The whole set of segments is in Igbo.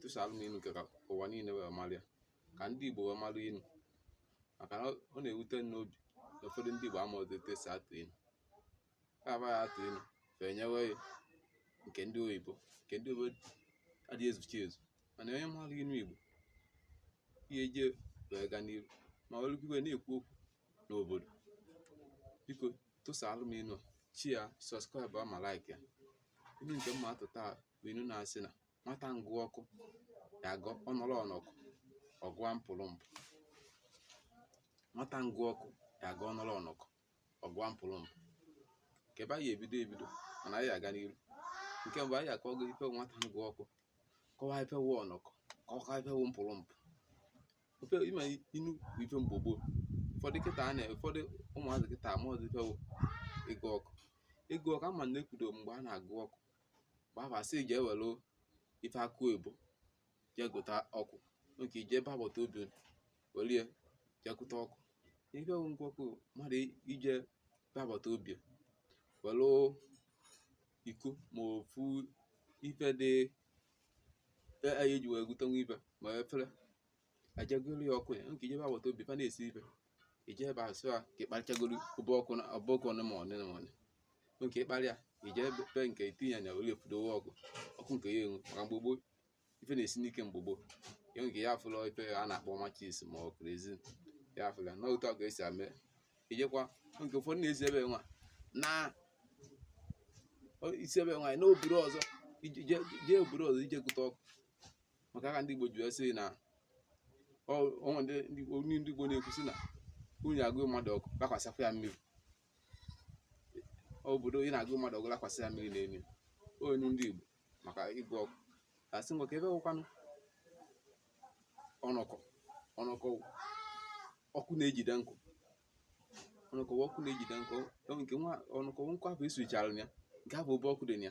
tụsara m inu ka ka ụwa niile wee mara ya ka ndị Igbo wee mara inu maka na ọ na-ewute m n'obi na ụfọdụ ndị Igbo amaghịzi etu esi atụ inu ka aba ya atụ inu fa enyewe ya nke ndị oyibo nke ndị oyibo adịghị ezuchi ezu mana onye mara inu Igbo ihe je wee gaa n'ihu ma ọ bụrụ na-ekwu okwu n'obodo biko tụsara m inu share subscribe ma like ya inu nke m ma-atụ taa bụ inu na-asị na nwata ngụ ọkụ ya agụ ọ nọrọ ọnọkọ ọ gụa mpụrụmpụ nwata ngụ ọkụ ya agụ ọ nọrọ ọnọkọ ọ gụa mpụrụmpụ nke ebe anyị ebido ebido mana anyị aga n'iru nke mbụ anyị akọwa gị ife nwata ngụ ọkụ kọwaa ife wụ ọnọkọ kọwaa ife wụ mpụrụmpụ ofe ime inu bụ ife mgbe gboo ụfọdụ kịta a na ụfọdụ ụmụazị kịta amaghịzi ife wụ ịgụ ọkụ ịgụ ọkụ ama na ekwudo mgbe a na-agụ ọkụ mgbe ahụ a sị jee were ife akụ oyibo jee gụta ọkụ nke ije ebe agbata obi were ya jee gụta ọkụ ife bụ ngụ ọkụ mmadụ ije ebe agbata obi were iko ma ofu ife dị eji wee gụtanwu ife ma efere e jee gụrụ ya ọkụ ya nke ije be agbata obi fa na-esi ife ije ebe a sụa ka ịkparịchagoro ụbọ ọkụ na ọbọ ọkụ ọnụ ma ọnụ ma ọnụ nke ịkparịa ije ebe nke itinye anya were efudowe ọkụ ọkụ nke ya enwu maka mgbe gboo ife na-esi n'ike mgbe gboo ya nke ya afụla ife a na-akpọ matches ma ọ kerosene ya afụla na otu ọkụ esi ame ijekwa nke ụfọdụ na-esi ebe nwa na isi ebe nwaanyị na obodo ọzọ ije obodo ọzọ ije gụta ọkụ maka ya ka ndị Igbo ji wee sị na onwe ndị ndị Igbo na-ekwu sị na unu agụ mmadụ ọkụ lakwasịkwa ya mmiri obodo ị na-agụ mmadụ ọkụ lakwasị ya mmiri n'elu inu ndị Igbo maka ịgụ ọkụ a sị ngwa ka ebe wụkwanụ ọnọkọ ọnọkọ ọkụ na-ejide nkụ ọnọkọ ọkụ na-ejide nkụ nke nwa ọnọkọ nkụ ahụ e suchara ya nke ahụ obe ọkụ dị ya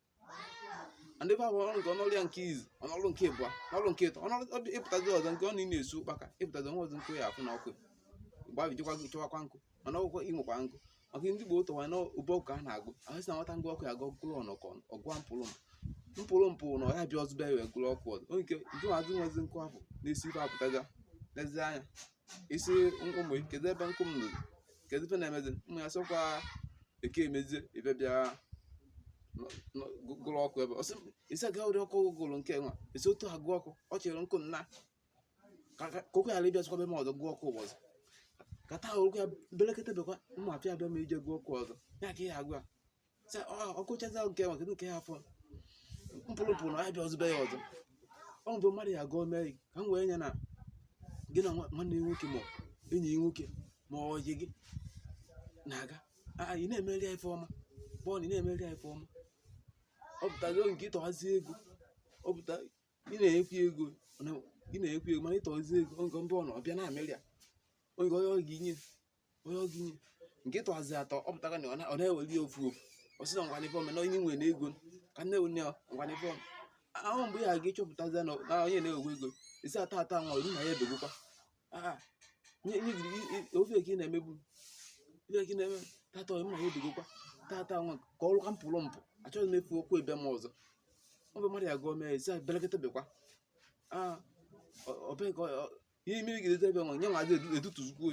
ndị bụ ọrụ nke ọnọrụ ya nke izizi ọnọrụ nke ịbụa ọnọrụ nke ịtọ ọnọrụ ịpụtazi ọzọ nke ọ na-esu ụkpaka ịpụtazi nwa ọzọ nkụ ya afụ na ọkụ gbabijikwa chọwakwa nkụ mana ọgwụkwọ ịnwekwa nkụ maka ndị Igbo ụtọwa na ụbọ ọkụ a na-agụ ahụ si na nwata ngụ ọkụ ya agụ gụrụ ọnọkọ ọ gụa mpụrụ mpụrụmpụ na ọ ya-abịa ọzọ bịa ya wee gụrụ ọkụ ọzọ onye nke nke nwezi nwezi nkụ afụ na-esi ife apụtaga lezie anya isi ụmụ kedu ebe nkụ m nụrụ kedu ife na-emezi ụmụ ya sịkwa eke emezie ife bịa gụrụ ọkụ ebe ọsị isi aga ụdị ọkụ gụrụ nke nwa esi otu ha gụọ ọkụ ọ chere nkụ nna ka okwu ghara ịbịa sịkwa be m ọzọ gụọ ọkụ ụbọchị kata orukwa belekete bekwa ụmụ afịa abịa ma ije gụọ ọkụ ọzọ ya ka ihe agwa sị ọkụchaza nke nwa kedu nke ya afọ mpụrụ pụrụ na abịazi be ya ọzọ ọ bụ mmadụ ya gụọ mee ka m wee nye na gị na nwanne gị nwoke ma enyi gị nwoke ma ọyị gị na-aga ị na-emere ya ife ọma bọọlụ ị na-emere ya ife ọma ọ pụtago nke ịtọghazi ego ọ pụta ị na-ekwu ego ị na-ekwu ego mana ịtọghazi ego oge mbụ ọ na ọbịa na-emere ya oge onye ọ ga-enye o nye gị nke tụhazi atọ ọ pụtara na ọ na-eweli ya ofu ofu ọ sị na ngwa n'ife ome na onye nwere ego ka nne onye ngwa n'ife ome ahụ mgbe ya ga ịchọpụtazi na onye na-ewe ego isi a tata nwa olu na ya ebegokwa ofe ka ị na-emebu ife ka ị na-eme tata onye na ya ebegokwa tata nwa ka ọ lụka pụrụ m pụ achọghị m ịfụ ụkwụ ị be m ọzọ ọ bụ mmadụ ya gụọ mee isi belekọta bekwa ọbee ka ihe mmiri gidete ebe nwa nye nwazi edutuzukwu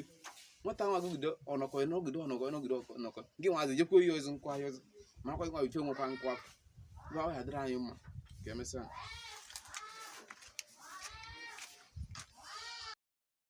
nwata nwa gụgide ọnọkọ n'ogide ọnọkọ n'ogide ọnọkọ gị nwazi jekwa ihe ozi nkwa ahịa ozi marakwa nwa ife nwekwa nkwa afọ gwa ahụ ya dịrị anyị mma ka e mesịa